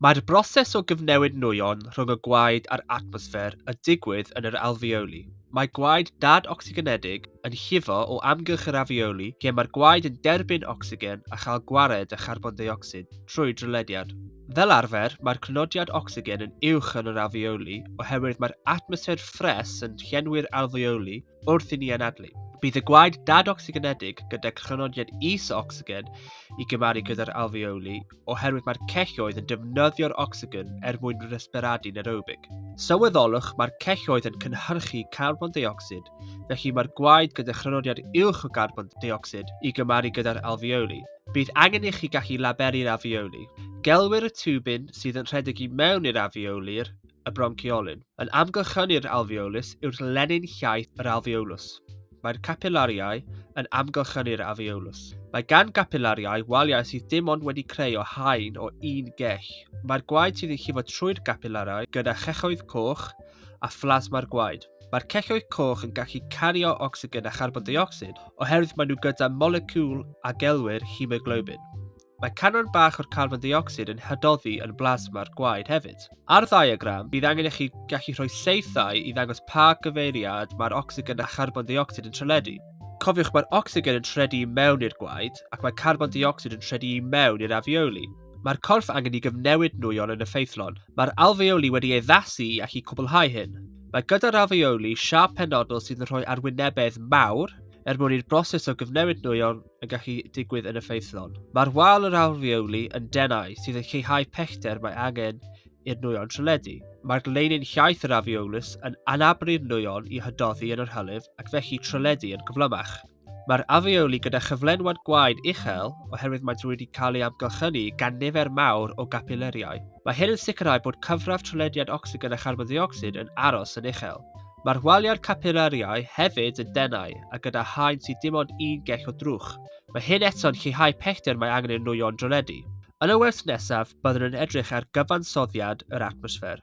Mae'r broses o gyfnewid nwyon rhwng y gwaed a'r atmosffer y digwydd yn yr alfeoli. Mae gwaed dad ocsigenedig yn llifo o amgylch yr afeoli lle mae'r gwaed yn derbyn ocsigen a chael gwared â charbon deuocsid trwy drylediad. Fel arfer, mae'r crynodiad ocsigen yn uwch yn yr alfeoli oherwydd mae'r atmosffer ffres yn llenwi'r alfeoli wrth i ni anadlu. Bydd y gwaed dad-ocsigenedig gyda chronodiad is o ocsigen i gymaru gyda'r alfeoli oherwydd mae'r celloedd yn defnyddio'r ocsigen er mwyn resperadu nerobig. Sylweddolwch mae'r celloedd yn cynhyrchu carbon deuocsid, felly mae'r gwaed gyda chronodiad uwch o garbon deuocsid i gymaru gyda'r alfeoli. Bydd angen i chi gallu laberu'r alfeoli. Gelwir y tiwbyn sydd yn rhedeg i mewn i'r alfeoli'r y bronciolyn. Yn amgylchynu'r alveolus yw'r lenyn llaith yr alveolus. Mae'r capillariau yn amgylchynu'r alveolus. Mae gan gapillariau waliau sydd dim ond wedi creu o haen o un gell. Mae'r gwaed sydd yn llifo trwy'r gapillariau gyda chelloedd coch a phlasma'r gwaed. Mae'r celloedd coch yn gallu cario ocsigen a charbon deuocsid oherwydd maen nhw gyda moleciwl a gelwir hemoglobin. Mae canran bach o'r carbon deuocsid yn hadoddi yn blasma'r gwaed hefyd. Ar ddiagram, bydd angen i chi gallu rhoi seithau i ddangos pa gyfeiriad mae'r ocsigen a charbon deuocsid yn treledu. Cofiwch mae'r ocsigen yn treledu i mewn i'r gwaed ac mae carbon deuocsid yn treledu i mewn i'r afeoli. Mae'r corff angen i gyfnewid nwyon yn effeithlon. Mae'r alfeoli wedi ei addasu i allu cwblhau hyn. Mae gyda'r alfeoli siâp penodol sydd yn rhoi arwynebedd mawr er mwyn i'r broses o gyfnewid nwyon yn gallu digwydd yn effeithlon. Mae'r wal yr alfeoli yn denau sydd yn lleihau pellter mae angen i'r nwyon treledu. Mae'r gleinin llaeth yr alfeolus yn anabru'r nwyon i hydoddi yn yr hylif ac felly treledu yn gyflymach. Mae'r alfeoli gyda chyflenwad gwaed uchel oherwydd maent wedi cael ei amgylchynu gan nifer mawr o gapileriau. Mae hyn yn sicrhau bod cyfradd trelediad ocsigen a charbon ddiocsid yn aros yn uchel. Mae'r waliau'r capilariau hefyd yn denau a gyda haen sydd dim ond un gell o drwch. Mae hyn eto'n lleihau pellter mae angen i'r nwyon droledu. Yn y wers nesaf, byddwn yn edrych ar gyfansoddiad yr atmosffer.